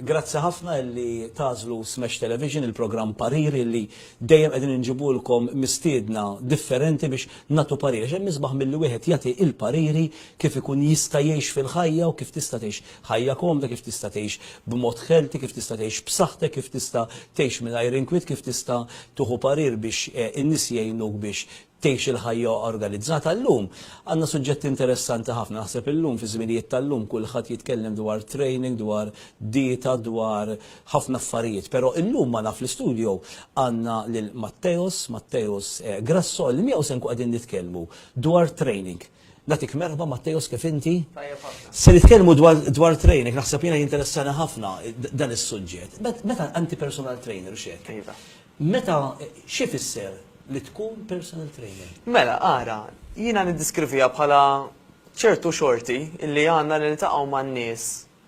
Grazzi ħafna illi tagħżlu Smash Television, il-programm Pariri illi dejjem qegħdin inġibulkom mistiedna differenti biex nagħtu pariri. Għax hemm isbaħ milli wieħed jagħti il-pariri kif ikun jista' jgħix fil-ħajja u kif tista' tgħix ħajja komda, kif tista' tgħix b'mod healthy, kif tista' tgħix b'saħħtek, kif tista' tgħix mingħajr inkwiet, kif tista' tieħu parir biex in-nies jgħinuk biex tgħix il-ħajja organizzata. Illum għandna suġġetti interessanti ħafna. Naħseb illum fiż-żminijiet tal-lum kulħadd jitkellem dwar training, dwar dieta, dwar ħafna affarijiet. Però illum magħna fl-istudio għandna lil Matteos, Matteos Grasso, li miegħu se nkunu qegħdin nitkellmu dwar training. Nagħtik merħba Matteos kif inti? Tajjeb ħafna. Se nitkellmu dwar dwar training, naħseb jiena jinteressani ħafna dan is-suġġett. Meta inti personal trainer u x'hekk. Iva. Meta, x'ifisser li tkun personal trainer? Mela, ara, jiena niddiskriviha bħala ċertu xorti li għandna li niltaqgħu man-nies,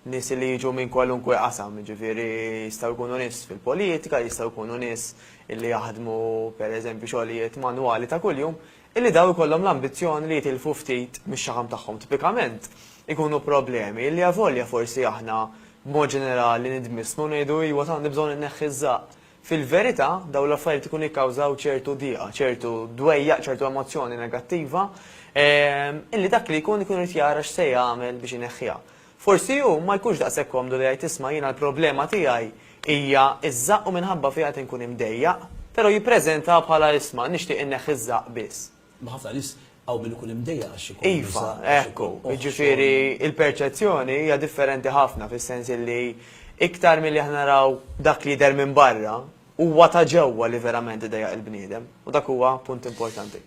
nies li jiġu minn kwalunkwe qasam, jiġifieri jistgħu jkunu nies fil-politika, jistgħu jkunu nies li jaħdmu pereżempju xogħlijiet manwali ta' kuljum, illi dawn ikollhom l-ambizzjoni li jitilfu ftit mix-xaħam tagħhom. Tipikament ikunu problemi illi avolja forsi aħna b'mod ġenerali nidmissnu u ngħidu iwa tant nibżgħu inneħħi ż-żaqq. Fil-verità, dawn l-affarijiet ikunu jikkawżaw ċertu diqa, ċertu dwejjaq, ċertu emozzjoni negattiva, illi dak li jkun ikun irid jara x'se jagħmel biex ineħħiha. Forsi hu ma jkunx daqshekk komdu li jgħid isma' jiena l-problema tiegħi hija ż-żaqq u minħabba fiha qed inkun imdejjaq, però jippreżentaha bħala isma' nixtieq inneħħi ż-żaqq biss. Ma ħafna nies hawn min ikun imdejjaq għax ikun Iva, nisa, għax hekk hu. ikun oħt, Jiġifieri xogħol. l-perċezzjoni hija differenti ħafna fis-sens illi iktar milli aħna naraw dak li jidher minn barra, huwa ta' ġewwa li verament idejjaq il-bniedem. U dak huwa punt importanti.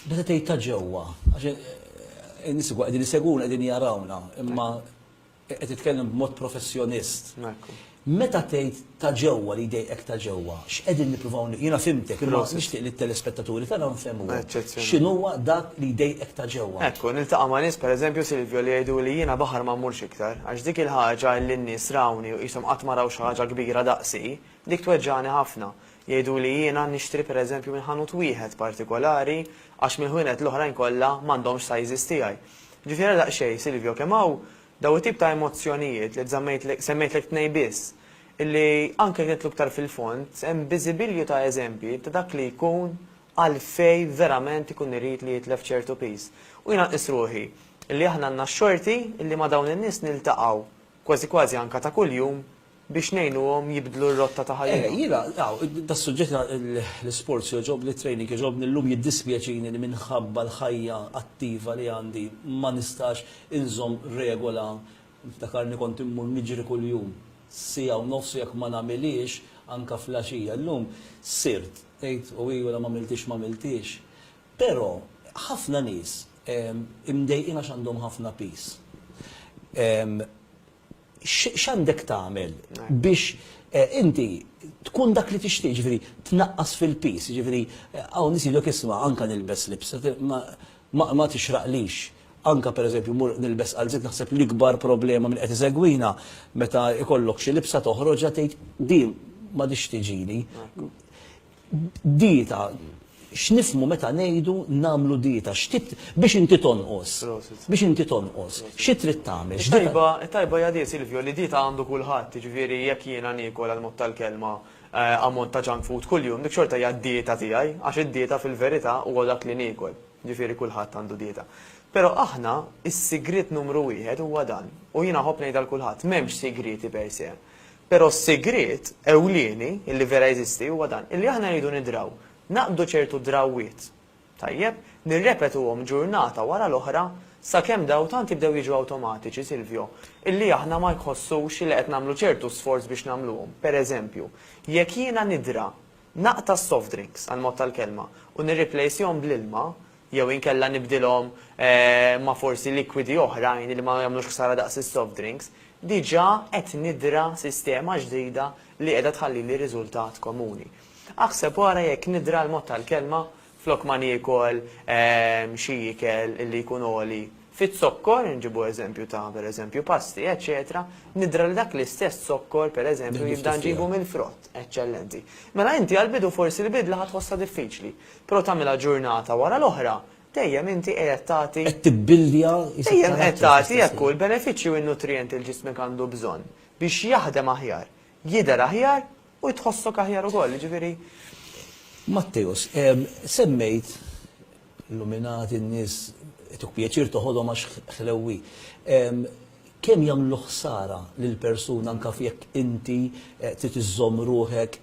Meta tgħid ta' ġewwa, għax in-nies ukoll qegħdin isegwuna, qegħdin jarawna, imma Qed titkellem b'mod professjonist. Ekku. Meta tgħid ta' ġewwa li jdejqek ta' ġewwa, x'qegħdin nippruvaw ni-, jiena fhimtek, imma nixtieq li t-telespettaturi tagħna nfehmuhom. Eċċezzjonali. X'inhuwa dak li jdejqek ta' ġewwa? Ekku, niltaqa' ma' nies, pereżempju, Silvio, li jgħiduli jiena baħar ma mmurx iktar, għax dik il-ħaġa li n-nies rawni u qishom qatt ma raw xi ħaġa kbira daqsi, dik tweġġagħni ħafna. Jgħiduli jiena nixtri pereżempju minn ħanut wieħed partikolari għax mill-ħwienet l-oħrajn kollha m'għandhomx size tiegħi. Ġifiera daqsxejn, Silvio, kemm hawn dawn it-tip ta' emozzjonijiet li żammejtlek, semmejtlek tnejn biss, illi anke jekk nidħlu iktar fil-fond, hemm biżibilju ta' eżempji ta' dak li jkun għalfejn verament ikun irid li jitlef ċertu piż. U jiena nqis ruħi illi aħna għandna x-xorti illi ma' dawn in-nies niltaqgħu kważi kważi anka ta' kuljum, biex ngħinuhom jibdlu r-rotta ta' ħajjithom. Eh, jiena, aw, das-suġġett ta' l-isports jogħġobni, it-training jogħġobni, llum jiddispjaċini li minħabba l-ħajja attiva li għandi ma nistax inżomm regola, niftakarni kont immur niġri kuljum siegħa u nofs u jekk ma nagħmilhiex anka fl-għaxija, llum sirt, tgħid u hi wara m'għamiltiex m'għamiltiex. Però, ħafna nies imdejqin għax għandhom ħafna piż. X'għandek tagħmel biex inti tkun dak li tixtieq, jiġifieri tnaqqas fil-piż, jiġifieri hawn nies jgħidulek isma' anke nilbes libsa ma tixraqlix, anke pereżempju mmur nilbes qalziet, naħseb l-ikbar problema min qed isegwina meta jkollok xi libsa toħroġha tgħid din m'għadhiex tiġini. Dieta, x'nifmu meta ngħidu nagħmlu dieta, x'tip biex inti tonqos, biex inti tonqos, xi trid tagħmel? Tajba, tajba hija di Silvio li dieta għandu kulħadd, jiġifieri jekk jiena niekol għal mod tal-kelma ammont ta' junk food kuljum, dik xorta hija d-dieta tiegħi, għax id-dieta fil-verità huwa dak li niekol, jiġifieri kulħadd għandu dieta. Però aħna s-sigriet numru wieħed huwa dan, u jiena nħobb ngħid għal kulħadd, m'hemmx sigrieti per se. Però s-sigriet ewlieni, li vera jeżisti, huwa dan, illi aħna rridu nidraw, naqbdu ċertu drawwiet, tajjeb, nirrepetuhom ġurnata wara l-oħra sakemm dawn tant jibdew jiġu awtomatiċi, Silvio, illi aħna ma nħossux li qed nagħmlu ċertu sforz biex nagħmluhom. Pereżempju, jekk jiena nidra Naqta' s-soft drinks, għall-mod tal-kelma, u nirriplejsjhom bl-ilma, jew inkella nibdilhom ma' forsi likwidi oħrajn li ma jagħmlux ħsara daqs is-soft drinks, diġà qed nidra sistema ġdida li qiegħda tħallili riżultat komuni. Aħseb wara jekk nidra l-mod tal-kelma Flok ma niekol xi ikel li jkun għoli fiz-zokkor, inġibu eżempju ta' per eżempju pasti, eċċetera, nidra li dak l-istess zokkor per eżempju jibda nġibu mill-frott. Eċċellenti. Mela inti għall-bidu forsi l-bidla ħa tħossha diffiċli, però tagħmilha ġurnata wara l-oħra, dejjem inti qiegħed tagħti. Qed tibbilja is-. Dejjem qed tagħti hekk hu l-benefiċċji u n-nutrijenti li ġismek għandu bżonn biex jaħdem aħjar, jidher aħjar U tħossok aħjar ukoll, jiġifieri. Matteus, Semmejt illuminati, n-nies ituk pjaċir toħodhom għax ħlewwi. Kemm jagħmlu ħsara lill-persuna anke jekk inti trid iżżomm ruħek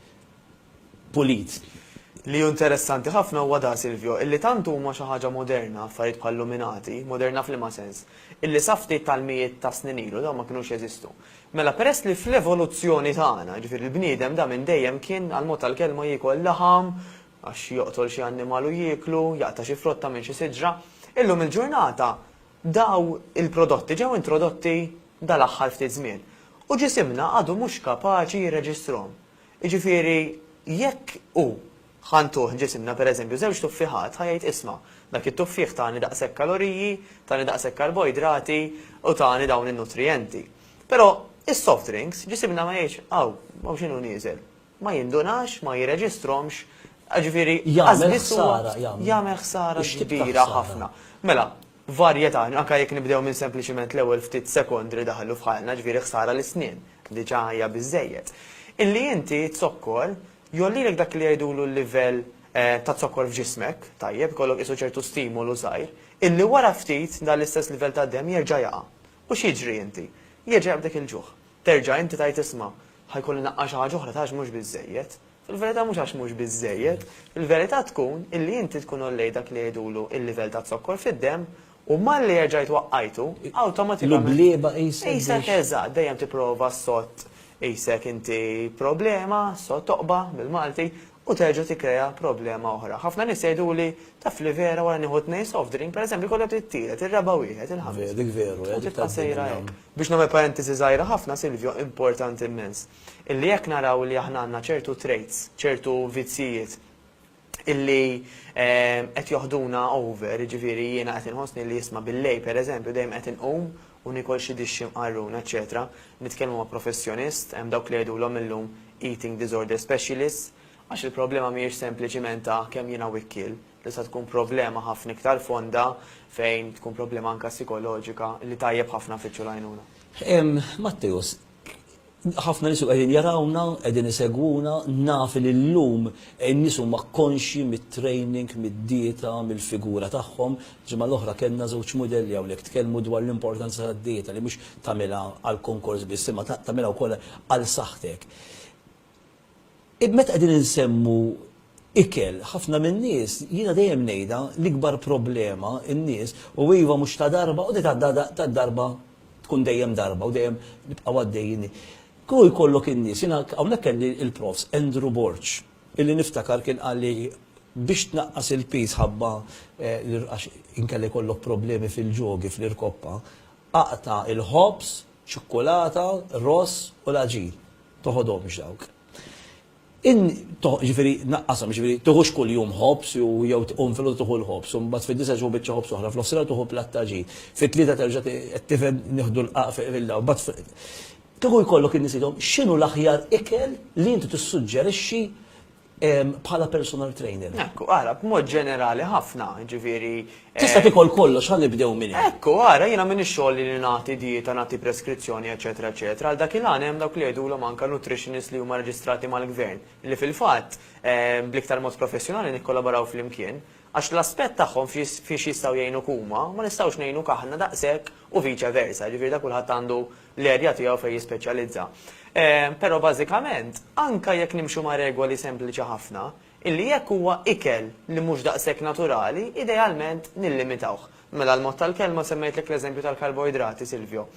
pulit? Li hu interessanti ħafna huwa da, Silvio, illi tant huma xi ħaġa moderna affarijiet bħall-luminati, moderna f'liema sens, illi sa ftit tal-mijiet ta' snin ilu dawn ma kinux jeżistu. Mela peress li fl-evoluzzjoni tagħna, jiġifieri l-bniedem da minn dejjem kien, għall-mod tal-kelma, jiekol laħam, għax joqtol xi annimal u jieklu, jaqta' xi frotta minn xi siġra, illum il-ġurnata daw il-prodotti ġew introdotti dal-aħħar ftit żmien u ġisimna għadu mhux kapaċi jirreġistrahom. Jiġifieri jekk hu Ħa ntuh ġisimna, per eżempju, żewġ tuffiħat, ħa jgħid isma', dak it-tuffieħ tani daqshekk kaloriji, tani daqshekk karboidrati u tani dawn in-nutrijenti. Però is-soft drinks, ġisimna ma jgħidx, aw, aw x'inhu nieżel. Ma jindunax, ma jirreġistrhomx, jiġifieri qas biss huwa. Jagħmel ħsara, jagħmel. Jagħmel ħsara kbira ħafna. Mela, varjetà, anke jekk nibdew minn sempliċement l-ewwel ftit sekondi li daħlu f'ħajna, jiġifieri ħsara l-isnien, diġà hija biżżejjed. Illi inti t-zokkor Jgħollilek dak li jgħidulu l-livell ta' zokkor f'ġismek, tajjeb, ikollok qisu ċertu stimolu żgħir, illi wara ftit dan l-istess livell tad-demm jerġa' jaqa'. U x'jiġri inti? Jerġa' jaqbdek il-ġuħ. Terġa' inti tgħid isma', ħa jkolli naqqa' xi ħaġa oħra ta' għax mhux biżżejjed. Fil-verità mhux għax mhux biżżejjed, il-verità tkun illi inti tkun għollejt dak li jgħidulu l-livell ta' zokkor fid-demm U malli erġajt waqqajtu, awtomatikament. L-ublieba qisek biex. Qisek eżatt, dejjem tipprova ssott qisek inti problema, ssott toqba bil-Malti, u terġa' tikkrea problema oħra. Ħafna nies jgħiduli, taf li vera wara nieħu tnejn soft drink, pereżempju, jkollha trid tielet, ir-raba' wieħed, il-ħames. Dik veru, eh. U tibqa' sejra hekk. Biex nagħmel parentesi żgħira ħafna, Silvio, importanti immens, illi jekk naraw li aħna għandna ċertu traits, ċertu vizzjijiet, illi ehm, qed joħduna over, ġifieri jiena qed inħossni li jisma' bil-lej pereżempju dejjem qed inqum u nikol xi dixxi mqarrun, eċetera. Nitkellmu ma' professjonist, hemm dawk li jgħidulhom illum eating disorder specialist, għax il-problema mhijiex sempliċiment ta' kemm jiena wikkiel, tista' tkun problema ħafna iktar fonda fejn tkun problema anka psikoloġika li tajjeb ħafna fiċċu l-għajnuna. Matteus, Ħafna nies qegħdin jarawna, qegħdin isegwuna, naf li llum in-nies huma konxji mit-training, mid-dieta, mill-figura tagħhom. Ġimgħa l-oħra kellna żewġ mudelli hawnhekk tkellmu dwar l-importanza tad-dieta li mhux tagħmilha għall-konkors biss imma tagħmilha wkoll għal saħħtek. Meta qegħdin insemmu ikel, ħafna min-nies, jiena dejjem ngħidha, l-ikbar problema n-nies, u iva mhux ta' darba, u ta' darba tkun dejjem darba u dejjem nibqgħu għaddejjin. Kieku jkollok in-nies, jiena hawnhekk kelli il-Profs. Andrew Borg, illi niftakar kien qal li biex tnaqqas il-piż ħabba għax inkella jkollok problemi fil-ġogi, fl-irkoppa, aqta' il-ħobż, ċikkulata, ross u l-għaġin. toħodhomx dawk. In, toħ, ġifieri naqqashom, ġifieri tieħux kuljum ħobż jew jew tqum filgħodu tieħu l-ħobż, u mbagħad fid-disa' tieħu biċċa ħobż oħra, f'nofsinhar tieħu platt ta' ġid, fit-tlieta terġa' ti, qed tifhem nieħdu l-qaq fi qbilna, u mbagħad fi. Kieku jkollok in-nies tgħidhom x'inhu l-aħjar ikel li inti tissuġġerixxi bħala personal trainer. Ekku, ara, b'mod ġenerali ħafna, ġifieri. Eh, Tista' tikol kollox ħalli bdew minn hemm. Ekku, ara, jiena minn ix-xogħol li nagħti dieta, nagħti preskrizzjoni, eċetera, eċetera. Għal dak il-għan hemm dawk li jgħidulhom anke nutritionist li huma reġistrati mal-gvern, li fil-fatt eh, bl-iktar mod professjonali nikkollaboraw flimkien. Għax l-aspett tagħhom fiex jistgħu jgħinu kuma, ma nistgħux ngħinu kaħna daqshekk u viċa versa, ġifieri da kulħadd għandu l-erja tiegħu fejn jispeċjalizza. Però bażikament, anke jekk nimxu ma' regoli sempliċi ħafna, illi jekk huwa ikel li mhux daqshekk naturali, idealment nillimitawh. Mela l-mod tal-kelma semmejtlek l-eżempju tal-karboidrati, Silvio.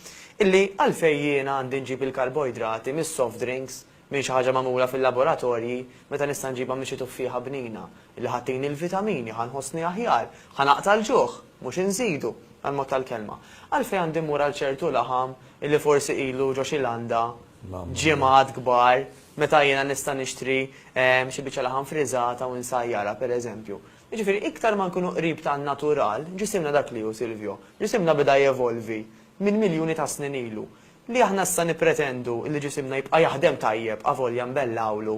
Illi għalfejn jiena għandi nġib il-karboidrati mis-soft drinks M'hi xi ħaġa magħmula fil-laboratorji, meta nista' nġibha minn xi tuffieħa bnina, li ħa tini l-vitamini, ħa nħossni aħjar, ħa naqta' l-ġuħ, mhux inżidu, għall-mod tal-kelma. Għalfejn għandi mmur għal ċertu laħam illi forsi ilu ġo xi landa ġimgħat kbar, meta jiena nista' nixtri xi biċċa laħam friżata u nsajjarha, pereżempju? Jiġifieri, iktar ma nkunu qrib tan-natural, ġisimna dak li hu, Silvio, ġisimna beda jevolvi minn miljuni ta' snin ilu. Li aħna issa nippretendu li ġisimna jibqa' jaħdem tajjeb avolja nbellgħulu,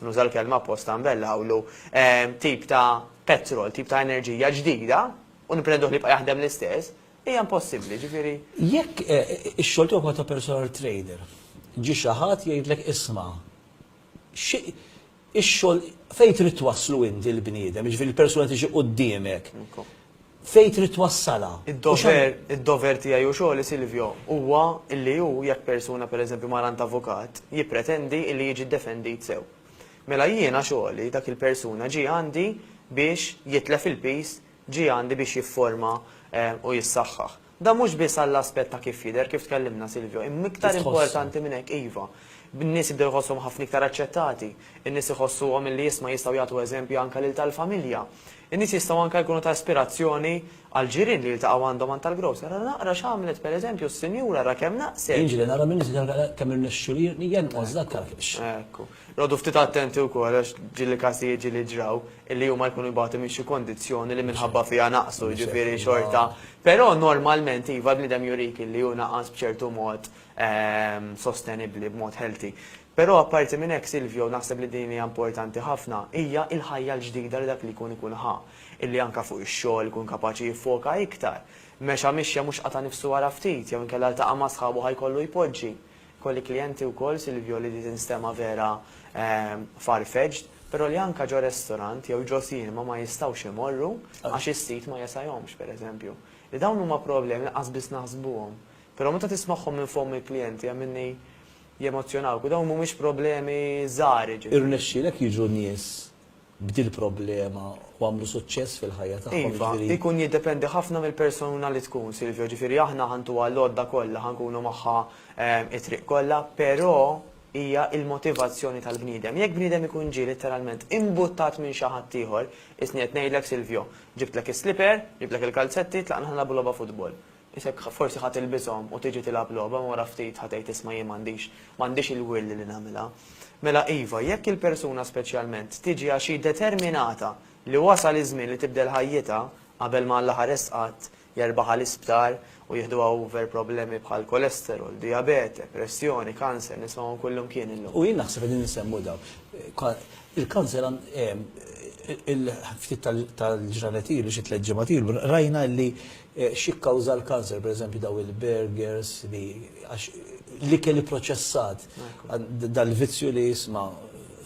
nuża l-kelma apposta nbellgħulu, tip ta' petrol, tip ta' enerġija ġdida, u nippretenduh li jibqa' jaħdem l-istess, hija impossibbli, jiġifieri. Jekk ix-xogħol tiegħu bħala ta' personal trainer, ġie xi ħadd jgħidlek isma', xi Ix-xogħol, fejn trid twasslu inti l-bniedem, jiġifieri l-persuna li tiġi quddiemek, fejn trid twassalha? Id-dover, id-dover tiegħi u xogħli, Silvio, huwa li hu, jekk persuna, per eżempju, mar għand avukat, jippretendi li jiġi ddefendit sew. Mela jiena xogħli, dak il-persuna ġie għandi biex jitlef il-piż, ġie għandi biex jifforma u jissaħħaħ. Dan mhux biss għall-aspett ta' kif jidher, kif tkellimna, Silvio, imma iktar importanti minn hekk, iva, n-nies jibdew iħossuhom ħafna iktar aċċettati, in-nies iħossuhom illi isma' jistgħu jagħtu eżempju anke lil tal-familja. In-nies jistgħu anke jkunu ta' ispirazzjoni għall-ġirien li jiltaqgħu għandhom għand tal-grocer, ara naqra x'għamlet, per eżempju, s-sinjura, ara kemm naqset! Jiġri, nara min iżid għal kemm irnexxilu jenqos dak għaliex. Ekku. Noqogħdu ftit attenti wkoll għax ġieli każijiet ġieli ġraw, li huma jkunu jbatu minn xi kondizzjoni li minħabba fiha naqsu, jiġifieri xorta. Però normalment iva l-bniedem jurik li hu naqas b'ċertu mod sostenibbli, b'mod healthy. Però apparti minn hekk Silvio, u naħseb li din hija importanti ħafna, hija l-ħajja l-ġdida li dak li jkun ikun ħa. Illi anke fuq ix-xogħol ikun kapaċi jiffoka iktar. Mexa mixja mhux qata' nifsu wara ftit, jew inkella ltaqa' ma' sħabu ħa jkollu jpoġġi. Kolli klijenti wkoll, Silvio, li di tinstema' vera far-fetched, però li anka ġo restorant jew ġo cinema ma jistgħux imorru għax is-sit ma jesajhomx, per eżempju. Li dawn huma problemi li qasbiss naħsbuhom. Però meta tismagħhom minn fomm il-klijenti hemm minni jemozzjonawk u dawn mhumiex problemi żgħar jiġifieri. Irnexxielek jiġu nies b'dil-problema u għamlu suċċess fil-ħajja tagħhom. Iva, jiġifieri ikun jiddependi ħafna mill-persuna li tkun, Silvio, ġifieri aħna ħa ntuha l-għodda kollha, ħa nkunu magħha t-triq kollha, però hija l-motivazzjoni tal-bniedem. Jekk bniedem ikun ġie litteralment imbuttat minn xi ħadd ieħor, qisni qed ngħidlek Silvio, ġibtlek is-slipper, ġibtlek il-kalzetti, tlaqna ħa nilagħbu logħba futbol. Isek forsi ħa tilbishom u tiġi tilgħab logħba imma wara ftit ħa tgħid isma' jien m'għandix m'għandix il-will li nagħmilha. Mela iva, jekk il-persuna speċjalment tiġi għax hi determinata li wasal iż-żmien li tibdel ħajjitha qabel ma Alla ħares qatt jerbaħha l-isptar u jiħduha over problemi bħal cholesterol, diabete, pressjoni, kanser, nismagħhom kullumkien illum. U jien naħseb qegħdin insemmu dawn. Il-kanser ftit tal-ġranet ilu, xi tliet ġimgħat ilu, rajna li X'jikkawża l-kanser, pereżempju dawn il-burgers li għax l-ikel ipproċessat, dal-vizzju li isma'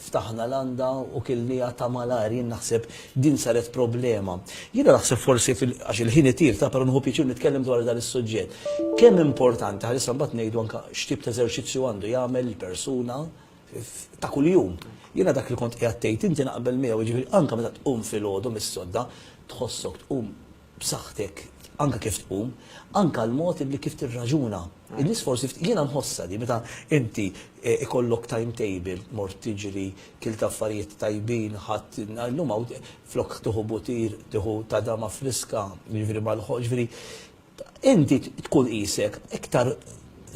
ftaħna landa u kilnieha ta' malajr, jien naħseb din saret problema. Jiena naħseb forsi għax il-ħin itir ta' però nieħu pjaċir nitkellem dwar dan is-suġġett. Kemm importanti, ħalissa mbagħad ngħidu anke x'tip ta' eżerċizzju għandu jagħmel il-persuna ta' kuljum. Jiena dak li kont qiegħed tgħid inti naqbel miegħu, jiġifieri anke meta tqum filgħodu mis-sodda tħossok tqum b'saħħtek anke kif tqum, anke l-mod illi kif tirraġuna. In-nies forsi ftit, jiena nħossha di meta inti ikollok timetable, mort tiġri, kilt affarijiet tajbin, ħadt, illum hawn flok tieħu butir, tieħu tadama friska, jiġifieri mal-ħoss, jiġifieri inti tkun qisek iktar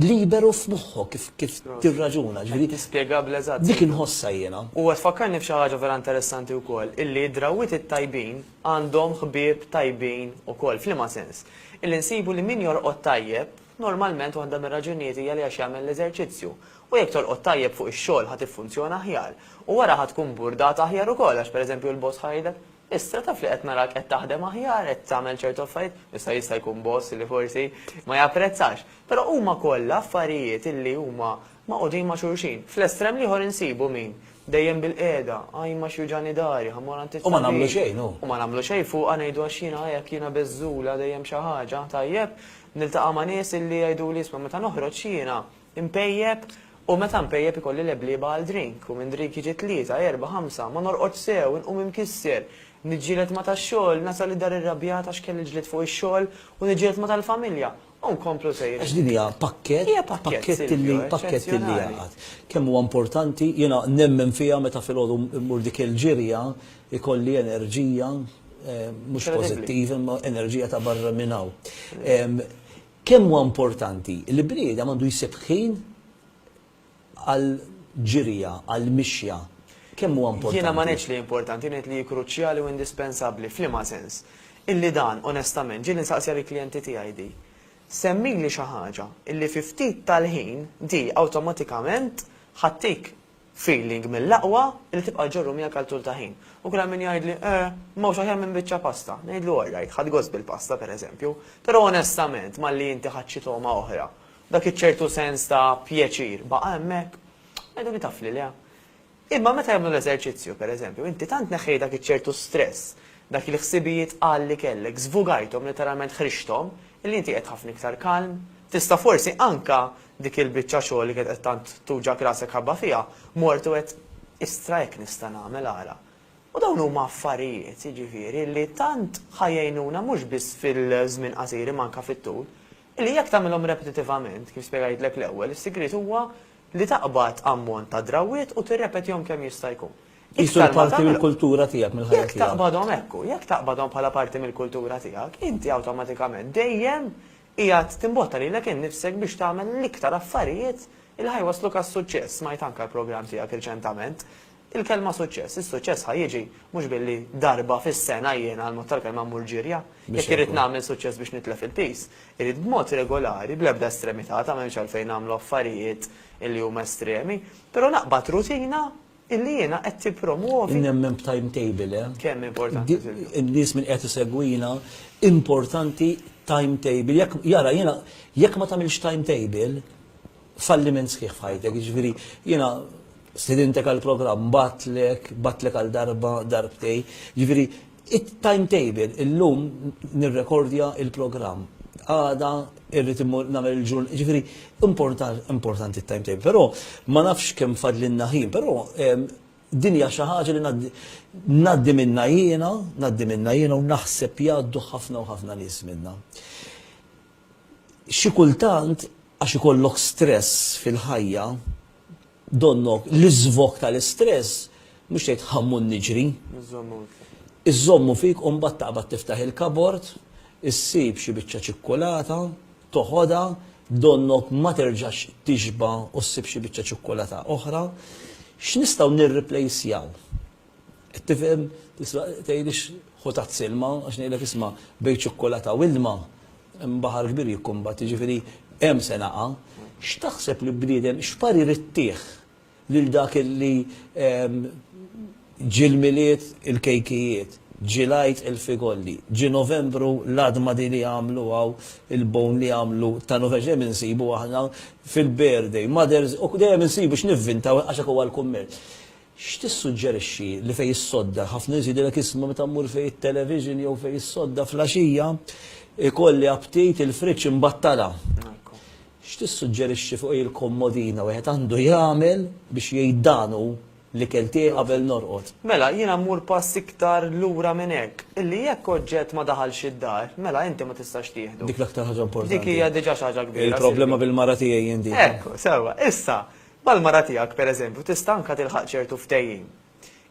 liberu f'moħħok kif tirraġuna, jiġifieri. Qed tispjega bl-eżatt. Dik inħossha jiena. U qed tfakkarni f'xi ħaġa vera interessanti wkoll, illi d-drawwiet it-tajbin, għandhom ħbieb tajbin ukoll. F'liema sens? Illi nsibu li min jorqod tajjeb, normalment waħda mir-raġunijiet hija li għax jagħmel l-eżerċizzju. U jekk torqod tajjeb fuq ix-xogħol ħa tiffunzjona aħjar. U wara ħa tkun burdata aħjar ukoll għax pereżempju l-boss ħa jgħidlek, Issa taf li qed narak qed taħdem aħjar, qed tagħmel ċertu affarijiet. Issa jista' jkun boss li forsi ma japprezzax. Però huma kollha affarijiet illi huma Magħqudin ma' xulxin. Fl-estrem l-ieħor insibu min. Dejjem bilqiegħda, ajma x'juġgħani dari, ħa mmur għand it-tabib. U ma nagħmlu xejn, hu. U ma nagħmlu xejn fuqha ngħidu għax jiena hekk, jiena beżżula, dejjem xi ħaġa. Tajjeb, niltaqa' ma' nies illi jgħiduli isma' meta noħroġ jiena npejjep u meta npejjep ikolli leblieba għal drink u minn drink jiġi tlieta, erbgħa, ħamsa, ma norqodx sew, inqum imkisser, niġġieled ma' tax-xogħol, nasal id-dar irrabjat għax kelli l-ġlied fuq ix-xogħol u niġġieled ma' tal-familja. U nkomplu sejrin. Għax din hija pakkett. Hija pakkett, Silvio, eċċezzjonali. Pakkett li jaqgħad. Kemm huwa importanti, jiena nemmen fiha meta filgħodu mmur dik il-ġirja jkolli enerġija, mhux pożittiva, imma enerġija ta' barra minn hawn. Kemm huwa importanti li bniedem għandu jsib ħin għall-ġirja, għall-mixja, kemm huwa importanti? Jiena ma ngħidx li importanti, ngħid li hi kruċjali u indispensabbli. F'liema sens? Illi dan, onestament, ġieli nsaqsiha lill-klijenti tiegħi di, Semmili xi ħaġa illi fi ftit tal-ħin di awtomatikament ħattik feeling mill-aqwa illi tibqa' ġġorru miegħek għal tul ta' ħin. U kien hemm min jgħidli, Eh, m'hawnx aħjar minn biċċa pasta. Ngħidlu, All right, ħadt gost bil-pasta, pereżempju, però onestament malli inti ħadt xi togħma oħra, Dak iċ-ċertu sens ta' pjaċir baqa' hemmhekk? Għiduli taf li le. Imma meta jagħmlu l-eżerċizzju, per eżempju, inti tant neħħejt dak iċ-ċertu stress, dak il-ħsibijiet qal li kellek, żvugajthom, letteralment ħriġthom, illi inti qiegħed ħafna iktar kalm. Tista' forsi anke dik il-biċċa xogħol li kienet qed tant tuġgħek rasek ħabba fiha, mort u għedt, Istra hekk nista' nagħmel, ara. U dawn huma affarijiet, jiġifieri, li tant ħa jgħinuna mhux biss fil-żmien qasir imma anke fit-tul. Li jekk tagħmilhom repetitivament, kif spjegajtlek l-ewwel, is-sigriet huwa li taqbad ammont ta' drawwiet u tirrepetihom kemm jista' jkun. Qisu li parti mill-kultura tiegħek, mill-ħajja tiegħek. Jekk taqbadhom hekk, jekk taqbadhom bħala parti mill-kultura tiegħek, inti awtomatikament dejjem qiegħed timbotta lilek innifsek biex tagħmel l-iktar affarijiet li ħa jwassluk għas-suċċess. Smajt anke l-programm tiegħek riċentament. Il-kelma suċċess, is-suċċess ħa jiġi mhux billi darba fis-sena jien għall-mod tal-kelma mmur ġirja. Jekk irrid nagħmel suċċess biex nitlef il-piż, irid b'mod regolari, bl-ebda estremità, ta' m'hemmx għalfejn nagħmlu affarijiet illi huma estremi, però naqbad rutina illi jiena qed tippromwovi. Nemmen b'timetable, eh? Kemm importanti, Silvio. In-nies min qiegħed isegwina, importanti timetable. Jekk, jara, jiena, jekk ma tagħmilx timetable, falliment sħiħ f'ħajtek, jiġifieri jiena stidintek għal programm, batlek, batlek għal darba, darbtej, jiġifieri it-timetable illum nirrekordja il-programm. Għada irrid immur nagħmel il-ġurn, jiġifieri importanti t-timetable, però ma nafx kemm fadlinna ħin, però ehm, dinja xi ħaġa li ngħaddi minna jiena, ngħaddi minna jiena u naħseb jgħaddu ħafna u ħafna nies minna. Xi kultant, għax ikollok stress fil-ħajja, donnok l-iżvog tal-istress, mhux tgħid ħammur niġri, iżżommu fik u mbagħad taqbad tiftaħ il-kabord, issib xi biċċa ċikkulata, toħodha, donnok ma terġax tixba' u ssib xi biċċa ċikkulata oħra. X'nistgħu nirriplejsjaw? Qed tifhem? Tista' tgħidlix ħu tazz ilma, għax ngħidlek isma' bejn ċukkulata u ilma hemm baħar kbir jikkumbatti, jiġifieri hemm se naqa'. X'taħseb li bniedem, x'parir ittih lil dak li ġie l-Milied il-kejkijiet, ġie l-Għid il-figolli, ġie Novembru l-għadma din li jagħmlu hawn il-bone li jagħmlu ta' Novembru, x'dejjem insibu aħna fil-birthday, mother's, u dejjem insibu x'nivvintaw għax hekk huwa l-kummerċ. X'tissuġġerixxi li fejn issodda? Ħafna nies jgħidilek isma' meta mmur fejn it-television jew fejn issodda flaxija ikolli aptit il-friġġ imbattala. X'tissuġġerixxi fuq il-kommodina wieħed għandu jagħmel biex jgħid dan hu l-ikel tiegħi qabel norqod? Mela, jiena mmur pass iktar lura minn hekk, illi jekk oġġett ma daħalx id-dar, mela inti ma tistax tieħdu. Dik l-aktar ħaġa importanti. Dik hija diġà xi ħaġa kbira. Il-problema bil-mara tiegħi jien dik. Hekk hu, sewwa. Issa, Mal-mara tiegħek, pereżempju, tista' anke tilħaq ċertu ftehim.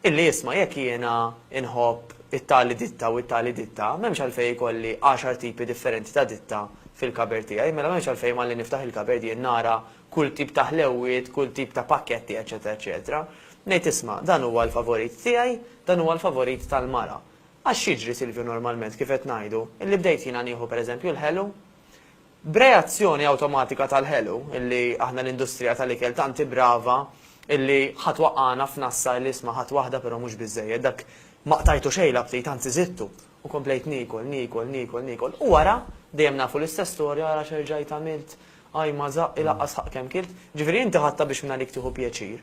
Illi isma' jekk jiena nħobb it-tali ditta u t-tali ditta, m'hemmx għalfejn ikolli għaxar tipi differenti ta' ditta fil-cupboard tiegħi, mela m'hemmx għalfejn malli niftaħ il-cupboard jien nara kull tip ta' ħlewwiet, kull tip ta' pakketti, eċċetera eċċetera. Ngħid isma', dan huwa l-favorit tiegħi, dan huwa l-favorit tal-mara. Għax x'jiġri, Silvio, normalment, kif qed ngħidu, illi bdejt jiena nieħu pereżempju l-ħelu? B'reazzjoni awtomatika tal-ħelu, illi aħna l-industrija tal-ikel tant hi brava, illi ħa twaqqagħna f'nassa illi isma' ħadt waħda però mhux biżżejjed, dak ma qtajtu xejn l-aptit, anzi żidtu, u komplejt niekol, niekol, niekol, niekol, u wara, dejjem nafu l-istess storja, ara x'erġajt għamilt, ajj ma żaqq, ilaqqas ħaqq kemm kilt, jiġifieri inti ħadtha biex mingħalik tieħu pjaċir.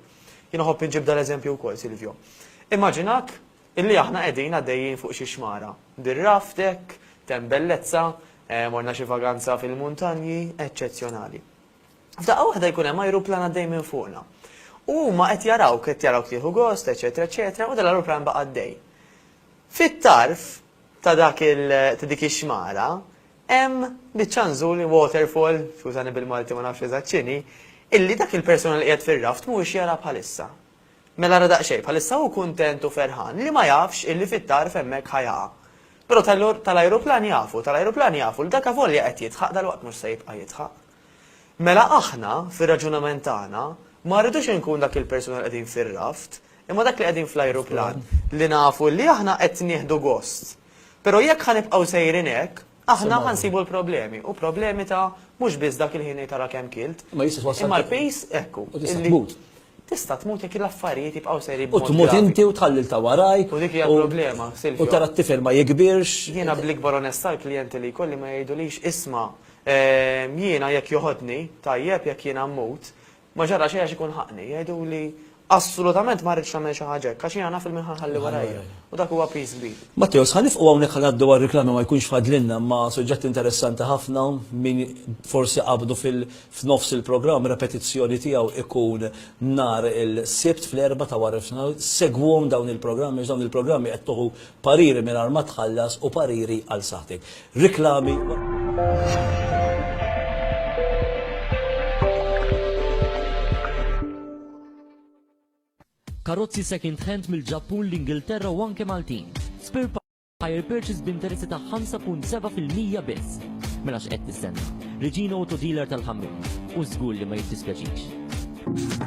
Jien uħobb inġib dal-eżempju wkoll, Silvio. Immaġinak Illi aħna qegħdin għaddejjin fuq xi xmara. Bir-raft hekk, t'hemm bellezza, morna xi vaganza fil-muntanji, eċċezzjonali. F'daqqa waħda jkun hemm ajruplan għaddej minn fuqna. U huma qed jarawk, qed jarawk tieħu gost, eċċetera, eċċetera, u dal-ajruplan baqa' għaddej. Fit-tarf ta' dak il, ta' dik ix-xmara, hemm biċċa nżul, waterfall, skużani bil-Malti ma nafx eżatt x'inhi, illi dak il-persuna li qiegħed fir-raft mhuwiex jara bħalissa. Mela ara daqsxejn, bħalissa hu kuntent u ferħan li ma jafx illi fit-tarf hemmhekk ħa jaqa'. Però tal-ajruplan jafu, tal-ajruplan jafu li dak avolja qed jidħaq dalwaqt mhux se jibqa' jidħaq. Mela aħna, fir-raġunament tagħna, ma rridux inkun dak il-persuna li qegħdin fir-raft, imma dak li qegħdin fl-ajruplan li nafu li aħna qed nieħdu gost. Però jekk ħa nibqgħu sejrin hekk, Aħna ħa nsibu l-problemi, u problemi ta' mhux biss dak il-ħin ngħid ara kemm kilt. Ma jista' twassal. Imma l-pejs ekku. U tista' tmut. Tista' tmut jekk l-affarijiet jibqgħu sejrin. U tmut inti u tħalli ta' warajk. U dik hija l-problema, Silvio. U tara t-tifel ma jikbirx. Jiena bl-ikbar onestà l-klijenti li jkolli ma jgħidulix isma' jiena jekk joħodni tajjeb jekk jiena mmut, Ma ġara xejn għax ikun ħaqni. Jgħiduli, Assolutament ma rridx tagħmel xi ħaġa hekk, għax jiena naf il-min ħa nħalli warajja. U dak huwa piż kbir. Matteos, ħa nieqfqu hawnhekk ħa ngħaddu għar-riklami ma jkunx fadlilna imma suġġett interessanti ħafna min forsi qabdu f'nofs il-programm repetizzjoni tiegħu ikun nhar il-Sibt fl-Erbgħa ta' waranofsinhar segwuhom dawn il-programmi għax dawn il-programmi qed tuħu Pariri mingħajr ma tħallas u pariri għal saħħtek. Riklami. karozzi second hand mill-Ġappun, l-Ingilterra u anke Maltin. Spare Hire purchase b'interessi ta' 5.7% biss. Mela x'qed tistenna? Regina Auto Dealer tal-ħammim. U żgur li ma jittispjaċix.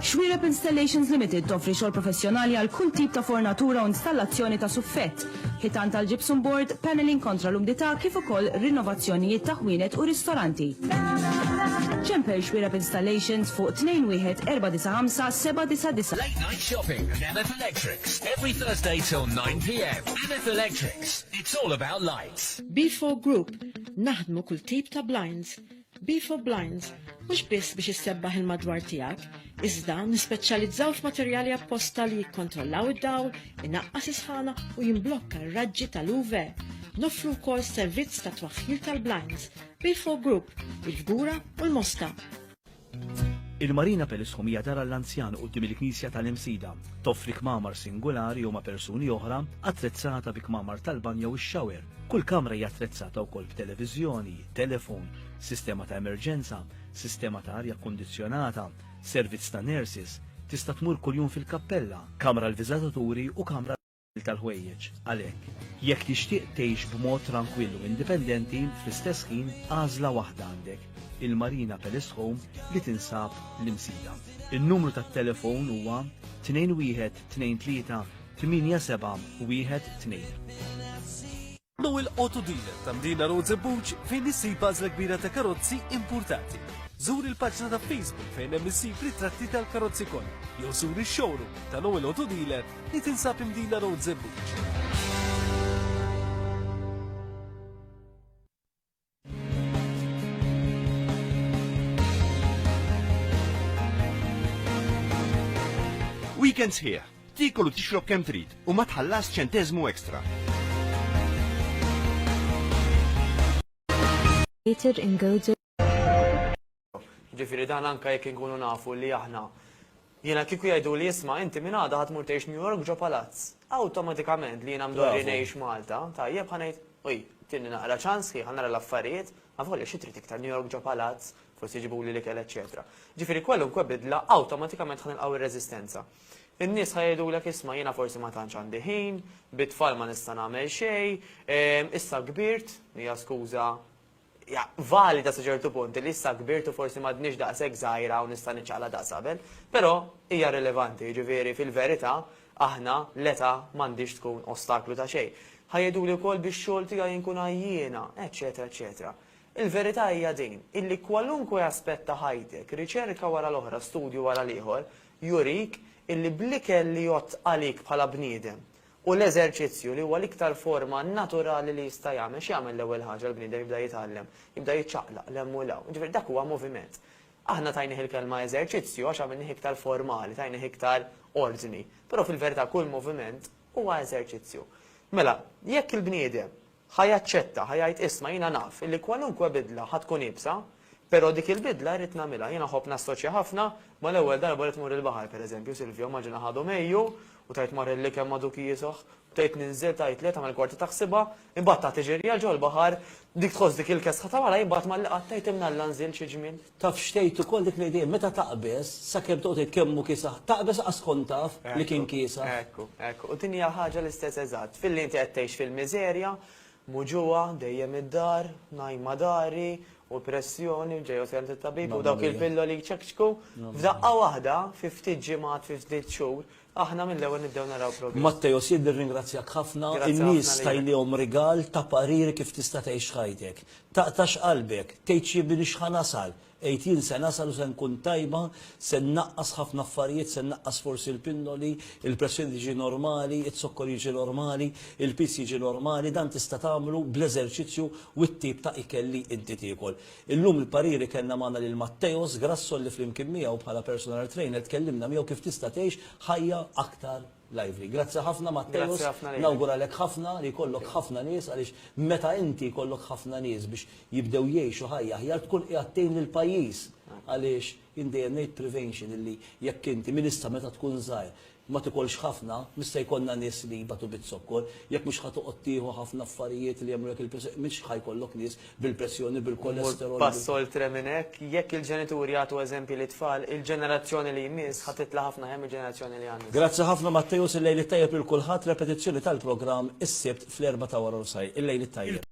Xwiereb Installations Limited toffri xogħol professjonali għal kull tip ta' fornatura u installazzjoni ta' suffett, ħitan tal-gypsum board, panelling kontra l-umdità kif ukoll rinnovazzjonijiet ta' ħwienet u ristoranti. Ċempel Xwiereb Installations fuq 21495 799. Late Night Shopping and MF Electrics every Thursday till 9 pm. MF Electrics, it's all about lights. Beefore Group, Naħdmu kull tip ta' blinds, Be for Blinds, mhux biss biex issebbaħ il-madwar tiegħek, iżda nispeċjalizzaw f'materjali apposta li jikkontrollaw id-dawl, inaqqas isħana u jimblokka r-raġġi tal-UV. Nofru wkoll servizz ta' twaħħil tal-blinds, Be for Group, il-Fgura u l-Mosta. Il-Marina Pelisħum hija dara l-anzjan quddiem il-Knisja tal-Imsida. Toffri kmamar singolari u ma' persuni oħra, attrezzata bi kmamar tal-banjo u x-xawer, Kull kamra hija attrezzata wkoll b'televiżjoni, telefon, sistema ta' emerġenza, sistema ta' arja kkundizzjonata, servizz ta' nurses, tista' tmur kuljum fil-kappella, kamra għall-viżataturi u kamra għall-ħasil tal-ħwejjeġ. Għalhekk, jekk tixtieq tgħix b'mod trankwill u indipendenti, fl-istess ħin għażla waħda għandek, il-Marina Palace Home li tinsab l-Imsida. In-numru tat-telefon huwa 21232 Tmienja Seba' Wieħed Tnejn. Hu l-auto dealer ta' Mdina Road Żebbuġ fejn issib għażla kbira ta' karozzi impurtati. Żur il-paġna ta' Facebook fejn hemm issib ritratti tal-karozzi kollha jew żur ix-showroom ta' Noel Auto Dealer li tinsab Mdina Road Żebbuġ. Weekend sħiħ, tikol u tixrob kemm trid u ma tħallas ċentezmu ekstra. Peter Ingozo Jiġifieri dan anke jekk inkunu nafu li aħna Jiena kieku jgħiduli isma' inti minn għada ħa tmur tgħix New York ġo palazz. Awtomatikament li jiena mdorri ngħix Malta, tajjeb, ħa ngħid, oj, tini naqra ċans ħi, ħa nara l-affarijiet, avolja xi trid iktar New York ġo palazz, forsi jġibuli l-ikel eċċetera. Jiġifieri kwalunkwe bidla awtomatikament ħa nilqgħu r-reżistenza. In-nies ħa jgħidulek isma' jiena forsi ma tantx għandi ħin, bit-tfal ma nista' nagħmel xejn, issa kbirt, hija skuża hija valida sa ċertu punt li issa kbirt u forsi m'għadniex daqshekk żgħira u nista' niċċaqlaq daqs qabel, però hija rilevanti, jiġifieri fil-verità aħna l-età m'għandhiex tkun ostaklu ta' xejn. Ħa jgħiduli wkoll bix-xogħol tiegħi inkun għajjiena, eċċetera eċċetera. Il-verità hija din, illi kwalunkwe aspett ta' ħajtek, riċerka wara l-oħra, studju wara l-ieħor, jurik illi bl-ikel li jgħodd għalik bħala bniedem u l-eżerċizzju, li huwa l-iktar forma naturali li jista' jagħmel. X'jagħmel l-ewwel ħaġa l-bniedem? Jibda jitgħallem, jibda jiċċaqlaq 'l hemm u 'l hawn. Jiġifieri dak huwa moviment. Aħna tajnih il-kelma eżerċizzju għax għamilnih iktar formali, tajnih iktar ordni, però fil-verità kull moviment huwa eżerċizzju. Mela, jekk il-bniedem Ħa jaċċetta, ħa jgħid, 'Isma', jiena naf illi kwalunkwe bidla ħa tkun iebsa, però dik il-bidla rrid nagħmilha. Jiena nħobb nassoċja ħafna mal-ewwel darba li tmur il-baħar, per eżempju, Silvio, immaġina ħadu Mejju u tgħid mar il-likem ma' Duki Jisoh, bdejt ninżel, tgħid le, tagħmel kwarta taħsibha, imbagħad tagħti ġirja 'l ġol-baħar, dik tħoss dik il-kesħa ta' wara, imbagħad malli qatt tgħid 'imnalla nżilt xi ġmiel. Taf x'tgħid ukoll dik l-idea, meta taqbeż, sakemm toqgħod tgħid kemm hu kiesaħ, taqbeż lanqas tkun taf li kien kiesaħ. Ekku, ekku. U din hija ħaġa l-istess eżatt. Filli inti qed tgħix fil-miżerja, muġugħa, dejjem id-dar, ngħajma dari, u pressjoni, u ġej u tkellimt it-tabib, u dawk il-pilloli jċekċku, f'daqqa waħda, fi ftit ġimgħat, fi ftit xhur, Aħna mill-ewwel nibdew naraw progress. Matteo, Sid nirringrazzjak ħafna. In-nies tajlihom rigal ta' pariri kif tista' tgħix ħajtek. Taqtax qalbek, tgħidx jibini x'ħa nasal, għid jien se nasal u se nkun tajba, se nnaqqas ħafna affarijiet, se nnaqqas forsi l-pinnoli, il-pressjoni tiġi normali, iz-zokkor jiġi normali, il-piż jiġi normali, dan tista' tagħmlu bl-eżerċizzju u t-tip ta' ikel li inti tiekol. Illum il-pariri kellna magħna lil Matteos Grasso li flimkien miegħu bħala personal trainer tkellimna miegħu kif tista' tgħix ħajja aktar lively. Grazzi ħafna Matteos, nawguralek ħafna li jkollok ħafna nies għaliex meta inti jkollok ħafna nies biex jibdew jgħixu ħajja aħjar tkun qiegħed tgħin lill-pajjiż għaliex jien dejjem ngħid prevention illi jekk inti minn issa meta tkun żgħir Ma tikolx ħafna, mhux se jkollna nies li jbatu biz-zokkor. Jekk mhux ħa toqgħod tieħu ħafna affarijiet li jagħmlulek il-pressjoni, mhux ħa jkollok nies bil-pressjoni, bil-kolesterol, bil. Mur pass oltre minn hekk, jekk il-ġenituri jagħtu eżempji lit-tfal, il-ġenerazzjoni li jmiss ħa titla' ħafna aħjar mill-ġenerazzjoni li għandna. Grazzi ħafna Matteus, il-lejl it-tajjeb lil kulħadd, repetizzjoni tal-programm is-Sibt fl-erbgħa ta' waranofsahar. Il-lejl it-tajjeb.